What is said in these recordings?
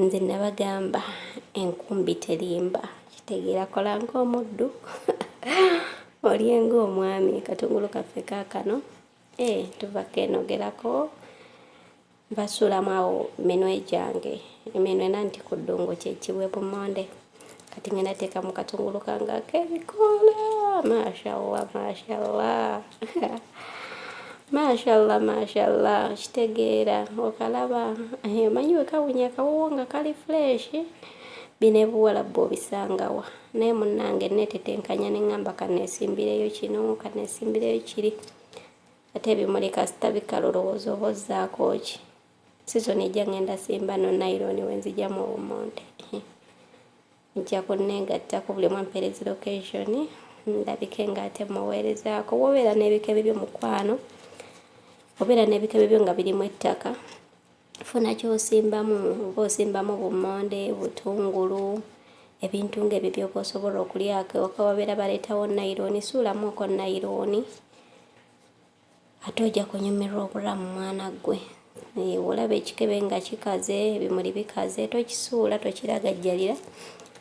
nze nabagamba enkumbi terimba kitegeera kola ng'omuddu olye ng'omwami katungulu kaffe kaakano e eh, tuva keenogerako mbasuulamu awo minwe gyange eminwe nanti ku ddungu kyekiwe bumonde kati ngenda teekamu katungulu kange ak'ebikoola mashallah mashallah mashallah mashallah kitegeera okalaba omanyi wekawunya akawoowo nga kali fresh bino ebuwalabbu obisangawa naye munnange netetenkanya neŋŋamba kaneesimbireyo kino kaneesimbireyo kiri ate ebimuli kasita bikala olowooza oba ozzaako ki Sizoni ejja ngenda simba no nylon wenzija mu obumonde nja kunneegattako buli omu ampeerezi location ndabike ng'ate mmuweerezaako wobeera n'ebikebe byo mukwano obeera n'ebikebe byo nga birimu ettaka funa kyosimbamu oba osimbamu bummonde butungulu ebintu ng'ebyo byoba osobola okulyako ewaka wabeera baleetawo nayironi suulamuko nayironi Ate oja kunyumirwa obulamu mwana gwe. Eh, olaba ekikebe nga kikaze, ebimuli bikaze, tokisuula, tokiragajjalira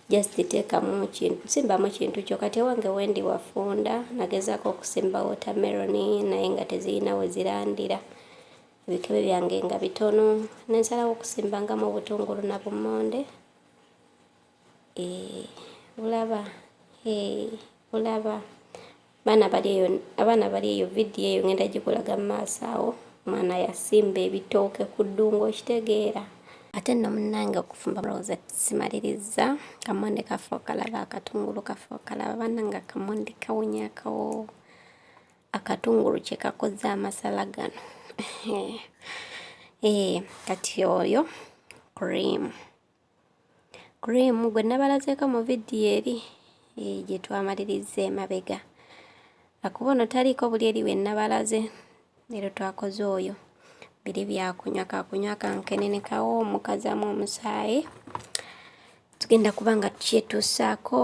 just teekamu kintu simbamu kintu kyo kati ewange wendi wafunda nagezaako okusimba watermelon naye nga tezirina we zirandira ebikebe byange nga bitono nensalawo okusimbangamu obutungulu na bumonde eh, bulaba eh, bulaba Abaana bali eyo, abaana bali eyo, vidiyo eyo ngenda gikulaga mu maaso awo. Omwana yasimba ebitooke ku ddungu okitegeera. Ate nno munnange okufumba mulowooza simalirizza. Kamonde kaffe okalaba, akatungulu kaffe okalaba, bannange akamonde kawunya akawo. Akatungulu kye kakoze amasala gano. Eh, kati oyo cream. cream gwe nabalazeeko mu vidiyo eri eh, gye twamalirizza emabega akuba ono taliiko buli eri we nabalaze leero twakoze oyo biri byakunywa kakunywa kankenene kawo omukazamu omusaayi tugenda kuba nga tukyetuusaako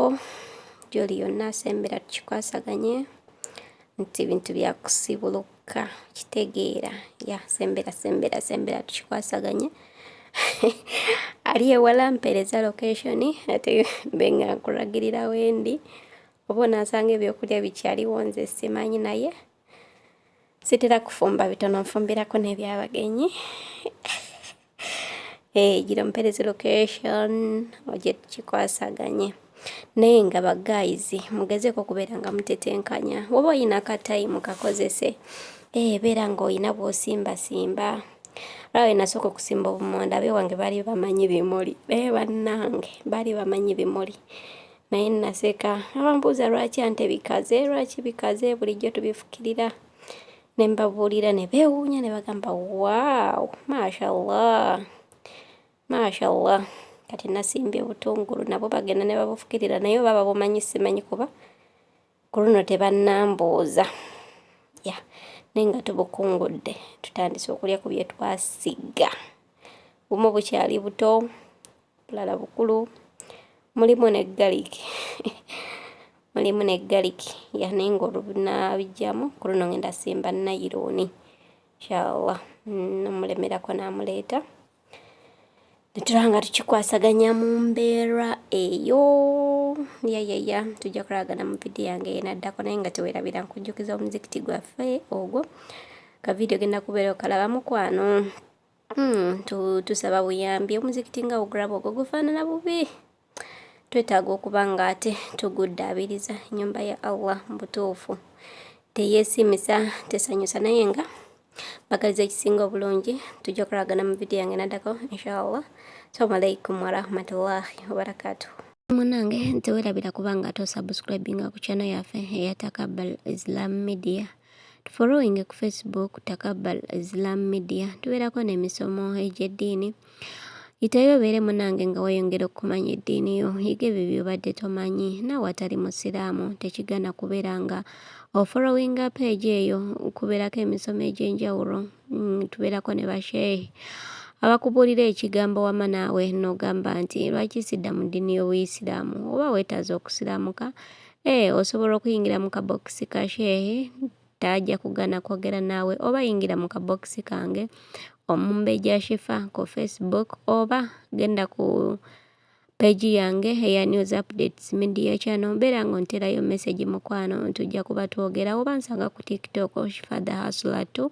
gyoli yonna asembera tukikwasaganye nti bintu byakusibuluka ka kitegeera ya sembera sembera sembera tukikwasaganye ali ewala mpeereza location ate benga nkulagirira wendi oba onansanga ebyokulya bikyaliwo nze simanyi naye sitera kufumba bitono nfumbirako n'ebyabagenyi Hey, eh, gira mpereze location oje tukikwasaganye naye nga bagaizi mugezeeko okubeera nga mutetenkanya woba olina akatayimu kakozese ee eh, beera nga olina bwosimbasimba lwawe nasooka okusimba obumonda abe wange baali bamanyi bimuli naye eh, bannange baali bamanyi bimuli naye naseka abambuuza lwaki ante bikaze lwaki bikaze bulijjo tubifukirira ne mbabuulira ne beewuunya ne bagamba waaw mashallah mashallah kati nasimbye obutungulu nabo bagenda ne babufukirira naye oba babumanyi simanyi kuba ku luno tebannambuuza ya naye nga tubukungudde tutandise okulya ku bye twasiga bumu bukyali buto bulala bukulu mulimu ne garlic mulimu ne garlic yane nga olubinabijjamu ku luno ngenda simba nayirooni inshallah nomulemerako namuleeta netuba nga tukikwasaganya mu mbeera eyo yayaya tujja kulagana mu vidiyo yange yenaddako naye nga tewerabira nkujjukiza omuzikiti gwaffe ogwo ka vidiyo genda kubeera okalaba mukwano Hmm, tu, tusaba buyambi omuzikiti nga ogulaba ogwo gufaanana bubi twetaaga okuba nga ate tuguddaabiriza nyumba ya allah mu butuufu teyeesimisa tesanyusa naye nga bagaliza ekisinga obulungi tujja kulagana mu vidiyo yange naddako inshallah salamu alaikum warahmatullahi wabarakatuhu munange nti werabira kubanga ate osubscribinga ku channel yaffe eyatakabbal islam media tufolowinge ku facebook takabbal islam media tubeerako n'emisomo egy'eddiini yitayo obeere munange nga weyongera okumanya eddiini yo yiga ebyo byobadde tomanyi naawe atali musiraamu tekigana kubeera nga ofolowinga peegi eyo kubeerako emisomo egy'enjawulo mm, tubeerako ne basheehi abakubuulira ekigambo wama naawe n'ogamba nti lwaki sidda mu ddiini y'obuyisiraamu oba weetaaza okusiraamuka Eeh osobola okuyingira mu ka box ka shehe taja kugana kwogera naawe oba yingira mu ka box kange Omumbejja Shifa ku Facebook oba genda ku page yange eya news updates media channel mbeera nga onterayo message mukwano tujja kuba twogera oba nsanga ku TikTok Shifa the hustler too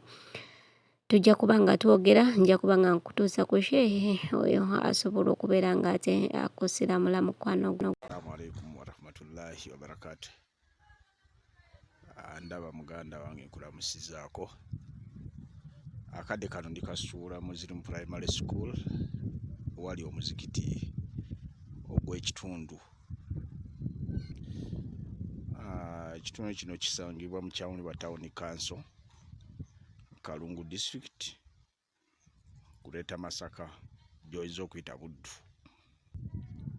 tujja kuba nga twogera nja kuba nga nkutuusa ku shehe oyo asobola okubeera nga ate akusiramula mukwano gwoalaikum warahmatullahi wabarakatu ah, ndaba muganda wange nkulamusizaako akadde kano ndi kasuula muslim primary school wali omuzikiti ogw'ekitundu ah, ekitundu kino kisangibwa mu kyawuni ba tawuni kanso kalungu district kuleeta masaka gyoyinza okuyita buddu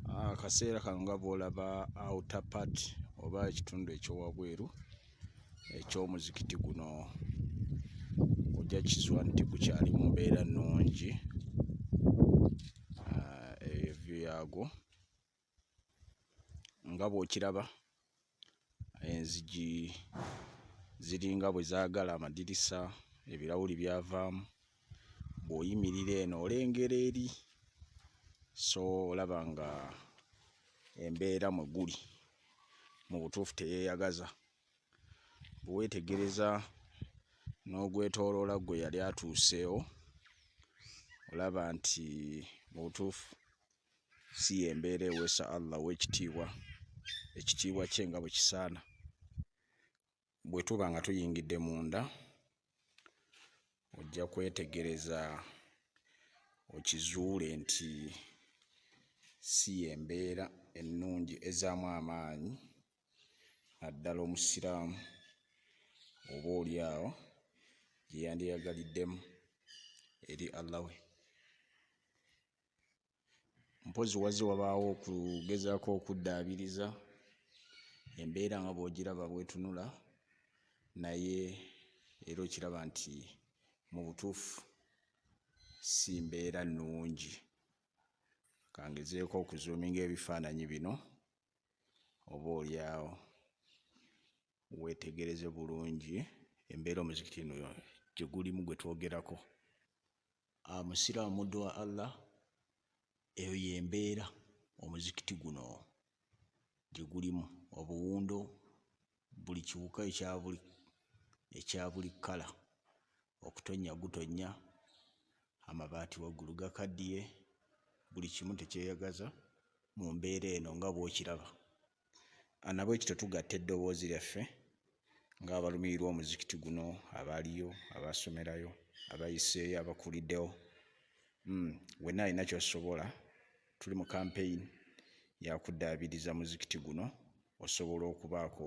ah, akaseera kano nga bwolaba outer part oba ekitundu ekyowabweru ekyomuzikiti guno ojja kizwa nti gukyali mu mbeera nnungi ah, evyo yaagwo nga bw'okiraba enzigi ziringa bwe zaagala amadirisa ebirawuli byavaamu bw'oyimirira eno olengera eri so olaba nga embeera mwe guli mu butuufu teyeeyagaza bwe weetegereza n'ogwetooloola gwe yali atuuseewo olaba nti mu butuufu si yembeera ewesa Allah owekitiibwa ekitiibwa kye nga bwekisaana bwe tuba nga tuyingidde munda ojja kwetegereza okizuule nti si yembeera ennungi ezaamu amaanyi naddala omusiraamu oba oli awo gyeyandiyagaliddemu eri Allah we mpozi wazze wabaawo okugezaako okuddaabiriza embeera nga bw'ogiraba bwetunula naye era okiraba nti mu butuufu si mbeera nnungi kangezeeko okuzuuminga ebifaananyi bino oba olyawo weetegereze bulungi embeera omuzikiti no gye gulimu gwe twogerako ah, musiraamu muddu wa allah eyo yembeera omuzikiti guno gye gulimu obuwundo buli kiwuka ekyabuli ekyabuli kkala okutonnya gutonnya amabaati waggulu gakaddiye buli kimu tekyeyagaza mu mbeera eno nga bw'okiraba ah, nabwe ekyo tetugatta eddoboozi lyaffe ng'abalumirirwa omuzikiti guno abaaliyo abaasomerayo abayiseeyo abakuliddewo hmm, wenna alina kyosobola tuli mu kampeyini yakuddaabiriza muzikiti guno osobola okubaako